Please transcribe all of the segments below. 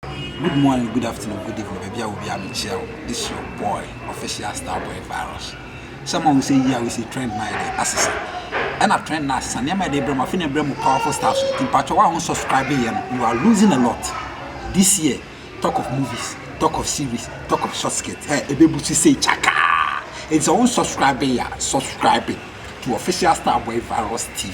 Good morning, good afternoon, good evening, baabi a obi a mekyia wo. This your boy, official star boy virus. Sɛ ma wo sɛ yi a wo sɛ trend na yɛde asesa. Ɛna trend na asesa, nneɛma yɛde brɛ mu, afei na ɛbrɛ mu powerful stars. Nti mpakyɛ wo a wo subscribe yɛ no, you are losing a lot. This year, talk of movies, talk of series, talk of short skirt, eh, ɛbɛbu so sei kyakaa. Nti sɛ wo subscribe yɛ a, subscribe to official star boy virus TV.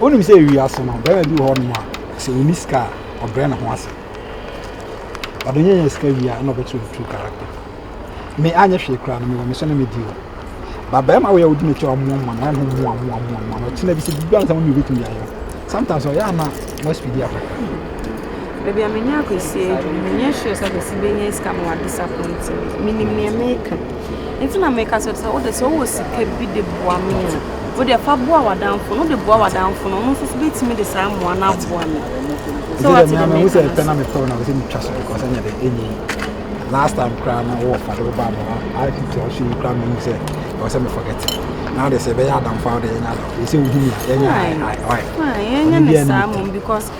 Wonim sɛ wiase no barima bi wɔ hɔ nom a sɛ ɔnni sika a ɔbrɛ ne ho ase. Ɔde nyɛ nyɛ sika wie a ɛna ɔbɛkyerɛ ne true character. Me anyɛ hwee koraa no mewɔ me so na medi o. Ba barima wei a wodi n'akyi a ɔmoa moa no ayɛ no moa moa moa moa no ɔkyena bi sɛ biribi ansa mo mmienu bɛtumi de ayɛ o. Sometimes ɔyɛ a na mo speedy akɔ. Baabi a me ne Akwasi adu no menyɛ sure sɛ Akwasi bɛnya sika ma wa disappoint me. Menim nea meka. Nti na meka kyerɛ sɛ wode sɛ wowɔ sika bi de boa me a wode fa boa w'adamfo no wode boa w'adamfo no ɔno nso so bɛtumi de saa mmoa no aboa me sɛ wate dɛ mehu sɛ pɛ na mepɛ wo na wo sɛ metwa so because ɛnyɛ dɛ ɛnyi last time koraa na wowɔ fa de wo baa mmoa atete ɔhye yi koraa mehu sɛ ɛwɔ sɛ me forget na wode sɛ ɛbɛyɛ adamfo a wode yɛnyɛ adamfo ɛsɛ wohu me a yɛnyɛ yɛnyɛ ne saa mmom because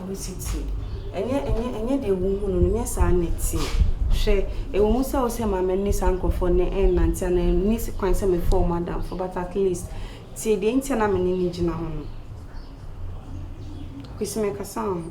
Awositsie. Ɛnyɛ ɛnyɛ ɛnyɛ deɛ wohu no no, nyɛ saa na ɛteɛ. Hwɛ, ɛwɔ mu sɛ wosɛ ma m'ani saa nkurɔfoɔ no ɛnnante anaa ɛnni kwan sɛ mefrɛ wɔn adamfo but at least tie deɛ nti a na me ne no gyina hɔ no. Kwesi mekasa wo ho.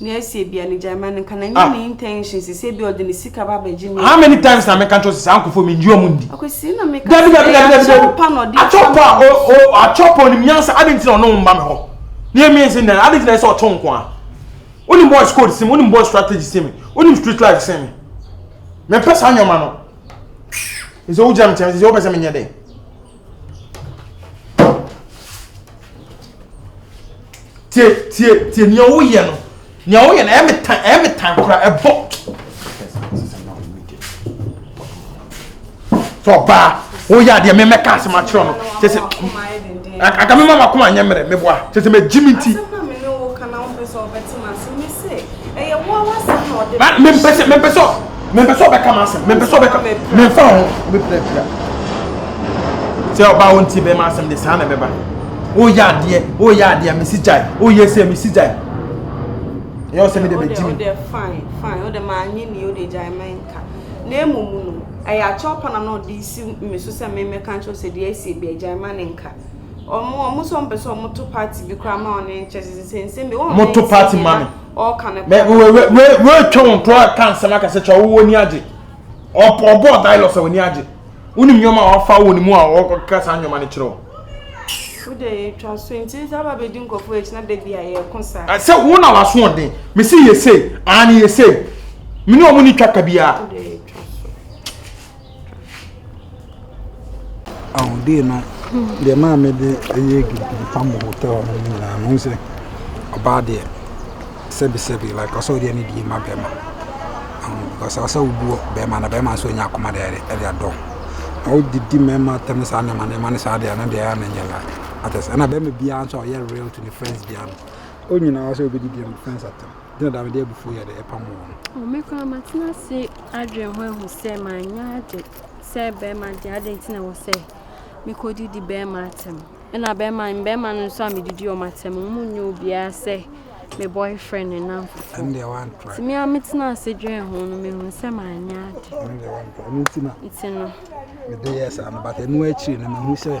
Na ɛsɛ ebia ne gyaema no nka na nyɛ ah. ne intention sɛ sɛ ebia ɔde ne sika ba abɛgye me. How many times na meka kyerɛ sɛ saa nkɔfoɔ menyi ɔmo ndi? Akwasi na meka sɛ ɛyɛ akyɛw pa na ɔde akyɛw pa o o akyɛw pa onim nyansa adi nti na ɔno mma me hɔ. Ne yɛ mmiɛnsa nyinaa adi nti na ɛsɛ ɔtɔ nko a. Onim boys code sim onim boys strategy sim onim street life sim. Mepɛ saa nneɛma no. Nso wogyina me kyɛn sɛ wopɛ sɛ menyɛ dɛn? tie tie tie nea woyɛ no nea woyɛ no ɛyɛ me tan ɛyɛ me tan kora ɛbɔ sɛ ɔbaa woyɛ adeɛ me mɛka asɛm akyerɛ no kyɛ sɛ aka me ma makoma nyɛ mmerɛ meboa kyɛ sɛ magyi me nti Ɛyɛ wo ara w'asɛm na ɔde ba. Mempɛ sɛ mempɛ sɛ mempɛ sɛ ɔbɛka m'asɛm. Mempɛ sɛ ɔbɛka memfa ho mepira pira. Sɛ ɔbaa wo nti bɛma asɛm de saa na ɛbɛba. Woyɛ adeɛ woyɛ adeɛ mesi gyae woyɛ sɛ mesi gyae. Ɛyɛ ɔsɛ mi de bɛ gyi mi. Ɔdɛ fine fine ɔdɛ maa nye ni ɔdɛ gyae mɛ nka. Na emu mu no ɛyɛ akyɛw pa na na ɔde si mi so sɛ mɛmɛ ka nkyɛw sɛ deɛ ɛsi ebi ɛgyae ma ne nka. Ɔmo ɔmo sɛ ɔmo pɛ sɛ ɔmo to party bi koraa ma ɔne nkyɛ sɛ nsɛnsɛm bi wɔn mo to party ma me ɔɔka ne kora wei wei wei wei twɛ wɔn to aka nsɛm aka sɛ kyɛ ɔwɔ ni agye ɔpɔ ɔbɔ dialogue sɛ wɔn ni agye wɔn nneɛma a ɔfa wɔn mu a ɔkeka saa nneɛma no kyerɛ wɔn. wode yɛtwa so nti sɛ aba bɛdi nkɔfoɔ akyi na da bi a yɛko saa sɛ wo na waso ɔden mese yɛsei aa ne yɛsei mene ɔmo ne twa ka biaa Ahoɔdie no deɛ maa me de ɛyɛ gidigidi pam wɔ hotel hɔ nom nyinaa no wohu sɛ ɔbaa deɛ sɛbi sɛbi like ɔsɛ wode ɛne die ma bɛɛma because ɔsɛ wo buo bɛɛma na bɛɛma nso nnya akoma de ɛde adɔ ho na wode di mɛɛma atɛm ne saa nneɛma nneɛma no saa deɛ ɛno deɛ ɛyɛ a na ɛnyɛ like ate aseɛ ɛna bɛɛma biaa nso a ɔyɛ real to ne friends biaa no ɔnyina hɔ sɛ ɔbɛdi deɛ ne friends atɛm. Dɛn na mede abufuw yɛ de repam wɔn? O me koraa matena ase adwene ho ahu sɛ manyɛ ade sɛ bɛrima de adɛn nti na wɔ sɛ mekɔdidi bɛrima atɛm ɛna bɛrima mbɛrima no nso a medidi wɔn atɛm wɔn mu nyɛ obiara sɛ me boyfriend ne namfofo nti me a metena ase dwene ho no mehu sɛ manyɛ ade nti no mede yɛ saa no but ɛno akyiri no mehu sɛ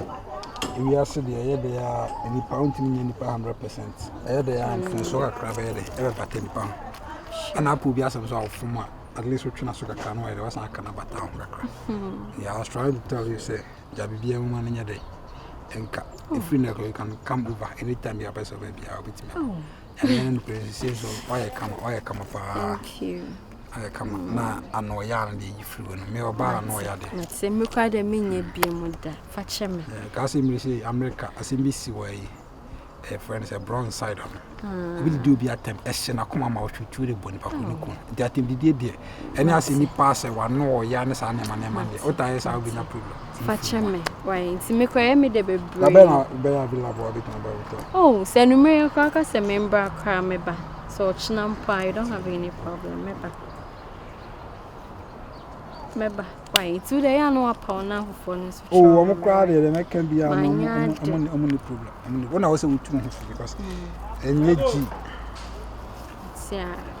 ewiase deɛ ɛyɛ deɛ a nnipa wontumi nyɛ nnipa 100 percent ɛyɛ dɛ a mfomsoɔ kakra bɛyɛ dɛ ɛbɛbata nipa ho ɛna apɔ obi asɛm so a ɔfom a at least wotwena so kakra no ayɛ dɛ wasan aka no abata ho kakra hmm. yeah, I was trying to tell you sɛ gya biribiara mu ma no nyɛ dɛ ɛnka ɛfiri no ɛkɔ you can come over anytime yɛapɛ sɛ ɔbɛ biara wobɛtumi ɛnyɛ no nokorɛ sisei so wayɛ kama wayɛ kama paa ayɛ kama na ano ɔyɛ a no deɛ ɛyi firi wɔ no me ɔbaa ano ɔyɛ adeɛ mekɔ dɛ menyɛ bio mu da fa kyɛ me kaa sɛ mmiri sɛ amerika asɛm bi si wɔ yi ɛfrɛ no sɛ bronze side no hmm. obi didi obi atɛm ɛhyɛ n'akoma ma ɔtwitwi de bɔ nipa ko ne hmm. kun nti atɛm didie deɛ ɛne ase nipa asɛ wano ɔya ne saa nneɛma nneɛma deɛ ɔta yɛ saa obi nya problem. fakyɛ me wae nti mekɔ yɛ me de bebree. na bɛyɛ na bɛyɛ available a bɛtuma bɛyɛ wotɔ. oh sɛ numere koraa ka sɛ membra koraa meba sɛ ɔkyena mpo a you don't have any problem meba meba. Wai nti wodɛ yɛ a na wapaw na afoforɔ no nso kyerɛ ɔmo mmerɛ a manyɛ ade. Ɔmo ni problem. Ɔmo ni. Wona wose wotu ho fo because ɛnyɛ gyi. Tiara.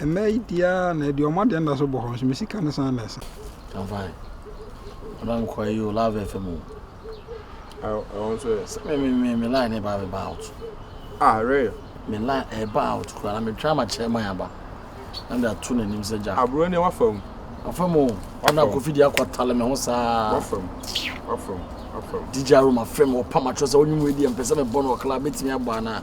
Ɛnnɛ yi deɛ ara na aduɔmo adeɛ nda so bɔ hɔ nso me sika no san na ɛsa. I'm fine. Ɔdɔ me kɔ ayi o love FM o. Ɛwɔ nso yɛ. Sɛ me me me me line ne ba me ba out. Ah real. Me line ɛba eh, out kura na me try ma chairman aba. Na me ato n'anim sɛ Jack. Aburo ne wafa mu. Wafa mu o. Ɔna kofi di akɔ tale me ho saa. Wafa mu. Wafa mu. Wafa mu. DJ Aroma fam ɔpam atwerɛ sɛ ɔnwom wei deɛ mpɛ sɛ mebɔ no ɔkla bɛtumi abɔ anaa.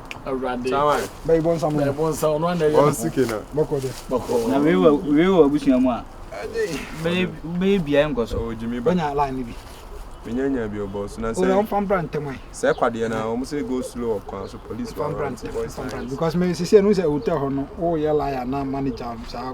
Awurade. Bɛyi bɔ nsam. Bɛyi bɔ nsam. Ɔno anɛ yɛ. Wɔn sike na. Bɔkɔ dɛ. Bɔkɔ. Na wei wɔ wei wɔ abusua mu a. Ɛde. Bɛyɛ bɛyɛ bia nkɔ so. Ɔwɔ gyimi ba. Bɛnya line ni bi. Bɛnya nya bi ɔbɔ so na sɛ. Ɔwɔ nfa mbra ntɛm ayi. Sɛ kwadeɛ na wɔn sɛ go slow ɔkwan so police. Nfa mbra ntɛm. Nfa mbra because mɛ sisi ɛnu sɛ hotel hɔ no wɔyɛ line ana manager saa.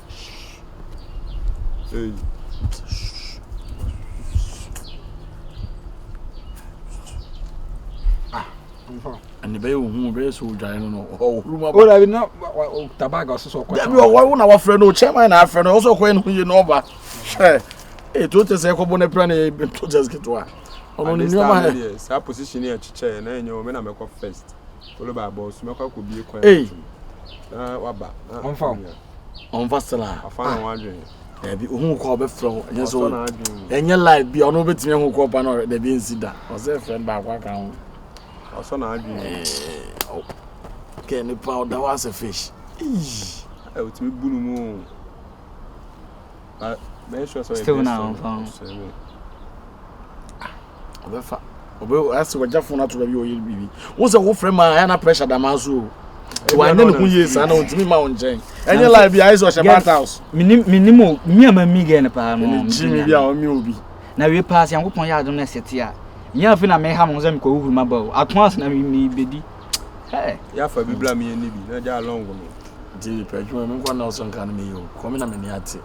ɛne bɛyɛ ohu bɛyɛ sɛ odwae no no ɔhoro mu aba dabi na tabaga ɔsɛ sɛ ɔkɔ dabi ɔwɔ wo na wafrɛ no chairman na afrɛ no ɔsɛ ɔkɔyɛ no yie na ɔba hwɛ ee to tɛ sɛ ɛkɔbɔ no apira na ɛyɛ to tɛ ketewa ɔno ne nneɛma yɛ saa position yɛ kyekyɛ na ɛnyɛ wɔn na mɛkɔ first followed by bɔs mɛkɔ akɔ bie kwan na waba ɔnfa ɔmfa sra a afa na wadwen dabi ohun kɔ ɔbɛfrɛ wo ɛnyɛ so ɛnyɛ live bi ɔno bɛtumi ahu kɔ pa no dabi nsi da ɔsɛ friend baako aka ho ɔsɔ na adwen kɛ nipa ɔda hɔ asɛ fish ɛ wotumi bu no mu o still na ɔmfa ho ɔbɛfa ɔbɛ ase wagya fon ato baabi ɔyɛ biribi wo sɛ wo frɛ ma ayɛ na pressure da maa so o wanyɛ ne ho yie saa na ɔntumi ma wo nkyɛn ɛnyɛ live bi ayɛ sɛ ɔhyɛ bant house menim o me ama mi gɛ no paa no gyimi bi a ɔme obi na wie paa sɛ nyankopɔn yɛ adom no ɛsɛte a nyɛ afe na meha mo sɛ mekɔhohuru maba o ato ase na mebɛdi yɛafa bi bla meyɛ ne bi na gya alɔngo me nti pɛ adwuma menkɔ na ɔsɔ nka no meyɛ o kɔme na mani ate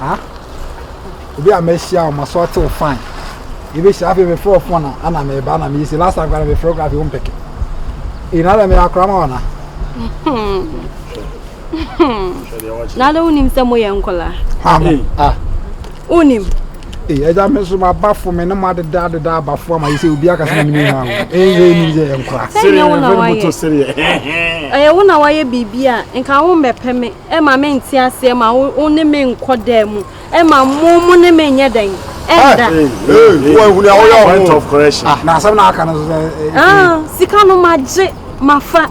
Ah? Obi a mehyia wɔn so ɔtew fine. Ebi hyia afei mefrɛ wo phone a ana meba na meyɛ si last time kora mefrɛ wo kora afei wo mpɛkɛ. Ina dɛ meyɛ akora ma wɔna. Na dɛ wonim sɛ moyɛ nkɔla. Ah. ah. Wonim. Ee eh, ɛgya me nso m'abafo me ne mo adeda adeda abafo ama yi sɛ obi akasa na me ne nyinaa wo. Ee yɛ ni yɛ nkora. Sɛ nyɛ wo na wayɛ. Ɛyɛ wo na wayɛ biribi a nka wo mbɛpɛ me. Ɛma me nte aseɛ ma wo ne me nkɔ dan mu ɛma mo mo ne me nyɛ dɛn ɛnda. na asɛm na aka no so sɛ. sika no ma gye ma fa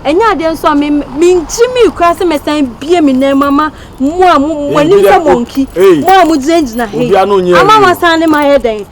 ɛnyɛ adeɛ nso a me me ngye mi kura sɛ mɛ san bie mi nan mu ama mo a mo mo anim sɛ mo nki mo a mo gyinagyina he ama ma san ne ma yɛ dɛn.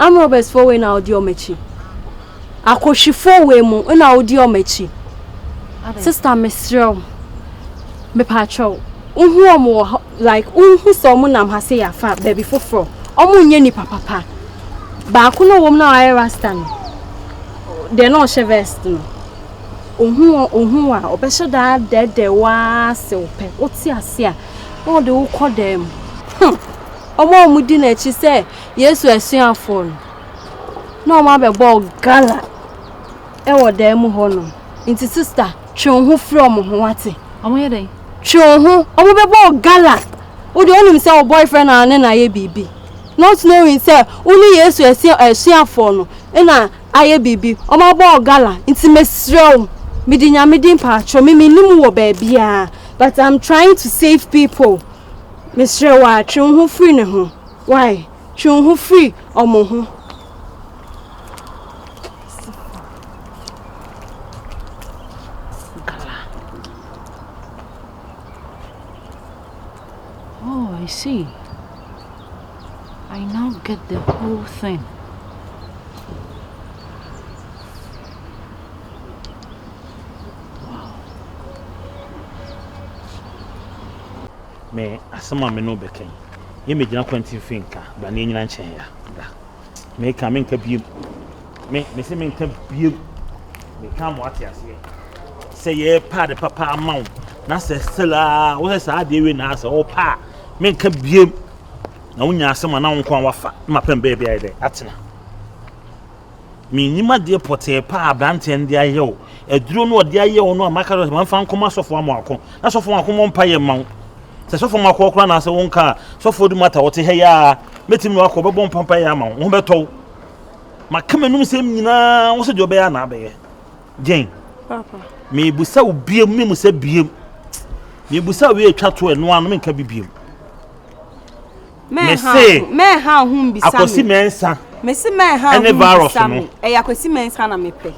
Arm robbers foɔ wei na wodi wɔn akyi. Akohwifoɔ wei mu na wodi wɔn akyi. Sista mesrɛ wo. Mepaakyɛ wo. Wohu wɔn wɔ hɔ like wohu sɛ wɔn nam ha sɛ yafa baabi foforɔ. Wɔn nyɛ nipa papa. Baako na wɔn na wayɛ rasta no. Deɛ na ɔhyɛ vest no. Ohu wɔn ohu a ɔbɛhyɛ daa dɛɛdɛɛ waa sɛ ɔpɛ. Wote ase a. Na ɔde wokɔ dɛm. Hmm. Wɔn a wɔdi n'akyi sɛ Yesu asuafoɔ no, na wɔabɛbɔ gala wɔ dan mu hɔnom. Nti sista, twe wo ho firi wɔn ho wate. Wɔyɛ dɛn? Twe wo ho. Wɔbɛbɔ gala. Wo deɛ wonim sɛ wo boyfriend a ne na ayɛ biribi. Not knowing sɛ wo ne Yesu asuafoɔ no na ayɛ biribi. Wɔabɔ gala. Nti mesrɛ wo, mede Nyame din paatwɔ me menni mu wɔ baabiara but I'm trying to save people. Mesrɛ wo a, twe wo ho firi ne ho. Why? Twe wo ho firi ɔmo ho. I see. I now get the whole thing. me asɛm a me ne wo bɛka yi, yɛmmɛgyina kwanti mfe nka, bra na yɛnyina nkyɛn ya, bra. Meka, menka biem. Me, mese menka biem. Meka ama wate aseɛ. Sɛ yɛrepa ade papa ama wo, na sɛ still a, wo sɛ saa adeɛ wei na asɛ, wopa a, menka biem. Na wonya asɛm a na wo nko a wafa, na mapɛ mbɛɛ bi ayɛ dɛ, atena. Mennim adeɛ pɔtee pa a aberanteɛ no de ayɛ wo. Aduro no a ɔde ayɛ wo no a maka sɛ mfa nkɔma Sɔfo Amoako na Sɔfo Amoako mmɔ mpaeɛ mma wo. Sɛ Sɔfo Amoako akora anaasɛ wonka a, Sɔfo Odumata ɔte ha yi ara bɛtumi ne wo akɔ, ɔbɛbɔ mpaeɛ ama wo, wo ho bɛtɔ wo. Maka m'anom sɛm nyinaa wo sɛdeɛ wobɛyɛ a na abɛyɛ. Jane, Papa. mebisa wo biam, memu sɛ biam. Mebisa wo wei a ɛtwa to ɛno ara no, menka bi biam. Mese Akwasi Mensah ɛne Virus no. Ɛyɛ Akwasi Mensah na mepɛ.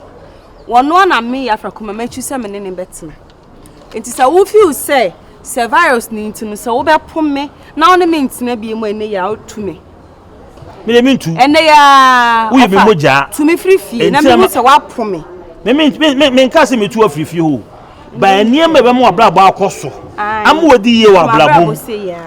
Wɔno a na me Yafra Kuma matwi sɛ me ne ne bɛtena. Nti sɛ wo feel sɛ sɛ Virus ne nti no sɛ wobɛpo me na wo ne me ntena bie mu ɛnɛ yɛ a wotu me. Me de mentu. Ɛnɛ yɛ a. Woyɛ me mogya. Tu me firi fie na mehu sɛ woapo me. Me me me me nka sɛ metu afiri fie hoo. ba nneɛma a ɛbɛma w'abrabɔ akɔ so ama wadi yie wɔ abrabɔ mu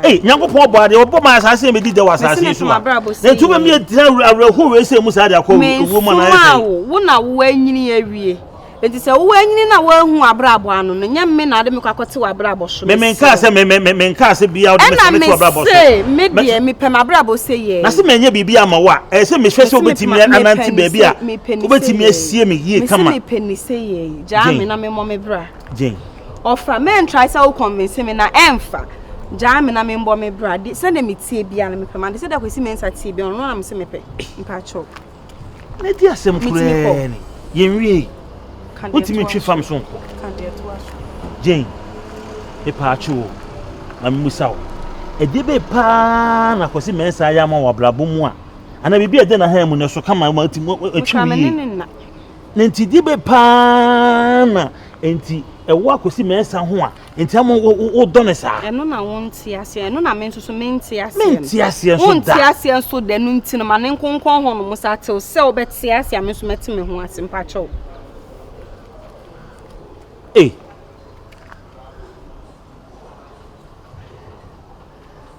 ei nyankopɔn ɔbɔ adeɛ ɔbɔ ma asaase bɛdi dɛ wɔ asaase yi so a na ɛtu bɛmi agyina awerɛho wei sɛ mu saa de akɔ ɛwuo mu anaa ɛsɛ wo na woanyini awie nti sɛ woanyini na woahu abrabɔ ano no nyɛ me na ade mekɔ akɔte w'abrabɔ so menkaa sɛ menkaa sɛ bia wode mesɛmete w'abrabɔ so ɛna me deɛ mepɛ m'abrabɔ sɛ yɛ na sɛ menyɛ biribi ama wo a ɛyɛ sɛ mehwɛ sɛ wobɛtumi anante baabi a wobɛtumi asie me yie kama mepɛ ne sɛ yɛ gyaa me na me mmɔ me bra ɔfa mɛn try sɛ wo convince me na ɛnfa gyaa me na me mbɔ me bra de sɛ na me tie bia na mepɛ ma de sɛ da kwesi me nsa tie bia ɔno na me se mepɛ mpakyɛw na di asɛm kurɛɛ ne yɛnwie wotumi twe fam so nkɔ Jane mepaakyɛw o ma memusa wo ɛde be paa na kwesi me nsa ayɛ ama wɔ abrabɔ mu a anaa biribi a ɛde na ha mu na ɛso kama ma atwi wie Na nti di be paa na nti ɛwɔ akosi mɛnsa ho a nti ama wodɔ ne saa. Ɛno na wo nte aseɛ ɛno na me nso so me nte aseɛ. Me nte aseɛ nso da. Wo nte aseɛ nso da no nti no ma ne nkonkɔn hɔ no mo sa tew sɛ wo bɛte aseɛ a me nso mɛte me ho ase mpakyɛw. Ee.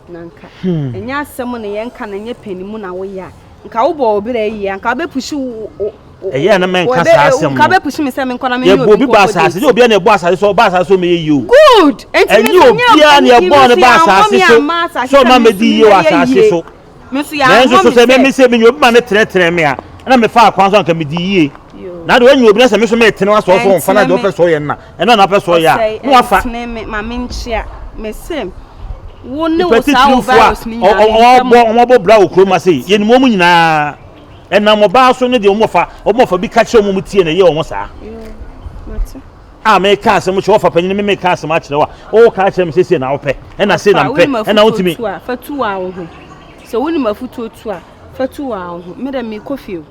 Na nka ɛnyɛ asɛm na yɛnka na ɛnyɛ pɛni mu na woyɛ a nka wobɔ wo berɛ yie a nka wobɛpusi wo ɛyɛ a na mɛnka saa asɛm nka wobɛpusi me sɛ menkɔ na menyɛ obi ba asase nyɛ obiara na ɛbɔ asase sɛ ɔba asase sɛ ɔmɛyɛ yie o good ɛnyɛ obiara na ɛbɔ ne ba asase so sɛ ɔma mɛdi yie wɔ asase so Nanso so sɛ meme sɛ menya obi ma no tenetene me a, na mefaa kwan so anka medi yie. Na deɛ ɔnya obi na sɛ me so metene wa sɔɔ so wɔmfa no a deɛ ɔpɛ sɔɔ yɛ no na ɛno a na ɔpɛ sɔɔ yɛ a na wafa. Nipa titiriw fo a ɔbɔ wɔn abɔ bra wɔ kurom ase yɛnim wɔn nyinaa ɛnam ɔbaa so ne deɛ wɔn ɔfa wɔn ɔfa bi ka kyerɛ wɔn wɔn tie na ɛyɛ wɔn saa. a meka asɛm kyerɛ ɔfa panyin me meka asɛm akyerɛ wo a woka akyerɛ me sɛsie na wopɛ ɛna sei na mpɛ ɛna wotumi fa tu a wo ho sɛ wonim afotuo tu a fa tu a wo ho medɛ mekɔ fie o